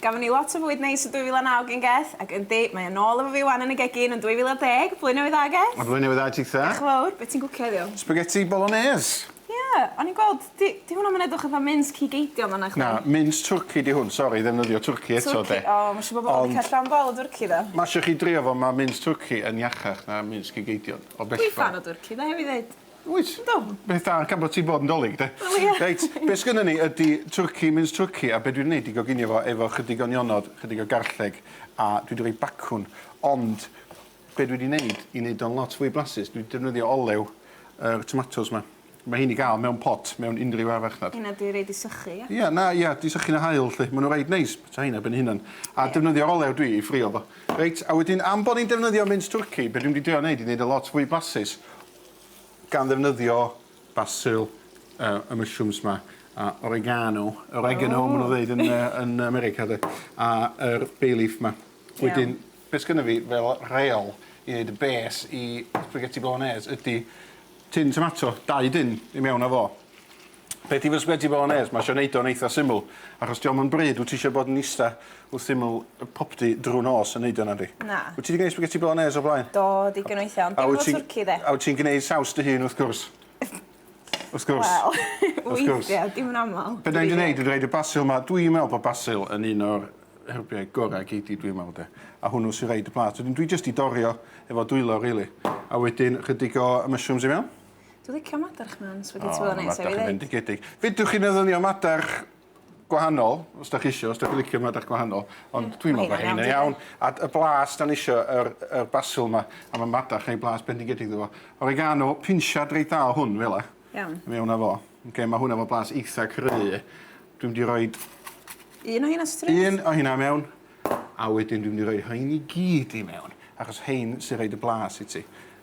Gafon ni lot o fwyd neis yn 2009 gen Geth, ac yndi, mae o nôl efo fi 'wan yn y gegin yn 2010! Blwyddyn Newydd Dda, Geth! A Blwyddyn Newydd Dda tithe! Diolch yn fawr, be' ti'n gwcio heddiw? Spaghetti bolognese! Ie, o'n i'n gweld, 'di, 'di hwnna 'm yn edrych fatha mince cig eidion fan'na chdi? Na, mince twrci 'di hwn, sori, ddefnyddio twrci eto 'de. Twrci, o, ma' isio bobol licio llond bol o dwrci do? Ma' isio chi drio fo, ma' mince twrci yn iachach na mince cig eidion, o bellach. Dwi ffan o dwrci 'de, rhaid fi ddeud. Wyt? Yndw. Beth da gan bo' ti'n bod yn 'Dolig de? Wel ie. Reit be' sgynnon ni ydi twrci mince twrci a be' dwi 'di neud 'di goginio fo efo chydig o nionod chydig o garlleg a dwi 'di roi bacwn ond be' dwi 'di neud i neud o'n lot fwy blasus dwi 'di defnyddio olew yr tomatos 'ma. Ma' rhein i ga'l mewn pot mewn unryw ardd farchnad. Heina 'di reid i sychu ia? Ia na ia 'di sychu yn y haul 'lly ma' n'w reit neis bita rheina ben 'u hunan a defnyddio'r olew dwi i ffrio fo. Reit a wedyn am bo' ni'n defnyddio mince twrci be' dwi mynd i drio neud i neud o lot fwy blasus Gan ddefnyddio basil yy y mushrooms 'ma a oregano oregano ma' nw'n ddeud yn yy yn America de a yr bay leaf 'ma. Iawn. Wedyn be' sgynno fi fel rheol i neud y bês i spaghetti bolognês ydi tin tomato, dau dun i mewn â fo. Peth i fysgod i fod yn onest, mae eisiau wneud o'n eitha syml, achos diolch yn bryd, wyt ti eisiau bod yn ista wrth syml popty drwy nos yn wneud o nadi? Na. Wyt ti wedi gwneud spaghetti bolognese o'r blaen? Do, digon o weithiau, ond dim efo twrci de. A wyt ti'n gwneud saws dy hun wrth gwrs? Wrth gwrs. Wel, weithiau, dim yn aml. Be da ni wedi gwneud, dwi wedi rhoid y basil yma, dwi'n meddwl bod basil yn un o'r hyrbiau gorau gei di dwi'n meddwl de, a hwnnw sy'n rhoid y plas, wedyn dwi jyst wedi dorri o efo dwylo rili, a wedyn ychydig o mushrooms i mewn. Dwi'n licio madarch man, spaghetti oh, bolognese. Madarch yn fendigedig. Fedrwch chi'n eddynio madarch gwahanol, os da chi eisiau, os da chi licio madarch gwahanol, ond mm, dwi'n meddwl bod hynny'n iawn. A y blas, da ni eisiau yr, yr basil yma, a mae madarch neu blas bendigedig ddo. Oregano, pinsiad reit dda o hwn, fel e. Iawn. Fe hwnna fo. Okay, mae hwnna fo blas eitha cry. Dwi'n di roi... Un o hynna stryd? Un o hynna mewn. A wedyn dwi'n di roi hyn i gyd i mewn, achos hyn sy'n rhaid y blas i ti.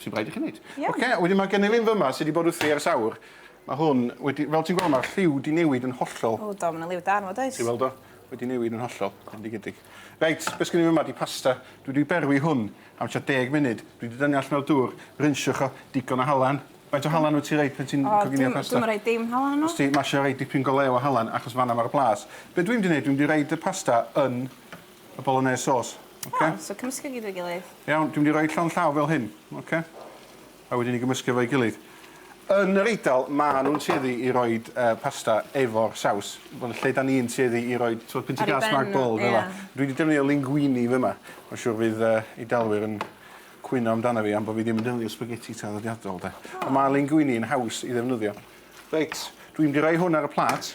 sy'n rhaid i chi wneud. Iawn. Ocê, wedyn mae gennyf un fyma sydd wedi bod wrthi ers awr. Mae hwn wedi... Fel ti'n gweld, mae'r lliw wedi newid yn hollol. O, do, mae yna liw da arno fo, does? Ti'n weld o? Wedi newid yn hollol, bendigedig. Reit, beth sgen i fyma di pasta. Dwi wedi berwi hwn am tua deg munud. Dwi wedi dynnu allan o'r dŵr, rinsiwch o, digon o halan. Faint o halan wyt ti'n rhoi pan ti'n coginio pasta? O, dwi'm yn rhoi dim halan yno. Os ti masio rhoi dipyn go lew o halan, achos fan'na mae'r blas. Be dwi'n mynd i wneud, dwi'n mynd i roid y pasta yn y bolognese sauce. Oce? Iawn, so cymysgu gyd efo'i gilydd. Iawn, dwi'n mynd i roi llond llaw fel hyn, oce? A wedyn i gymysgu efo'i gilydd. Yn yr Eidal, ma' nhw'n tueddu i roi uh, pasta efo'r saws. Wel, lle da ni'n tueddu i roi so, pint o gas mark bol, fel yeah. Dwi wedi defnyddio linguini fyma. Mae'n siŵr fydd uh, Eidalwyr yn cwyno amdano fi am bod fi ddim yn defnyddio spaghetti traddodiadol, de. Oh. Ond mae linguini yn haws i ddefnyddio. Reit, dwi'n mynd i roi hwn ar y plat.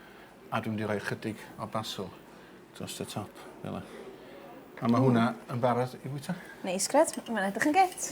A dwi'n mynd i roi chydig o basil dros y top, fel yna. A mae hwnna yn barod i fwyta. Neis, grêt. Mae'n edrych yn grêt.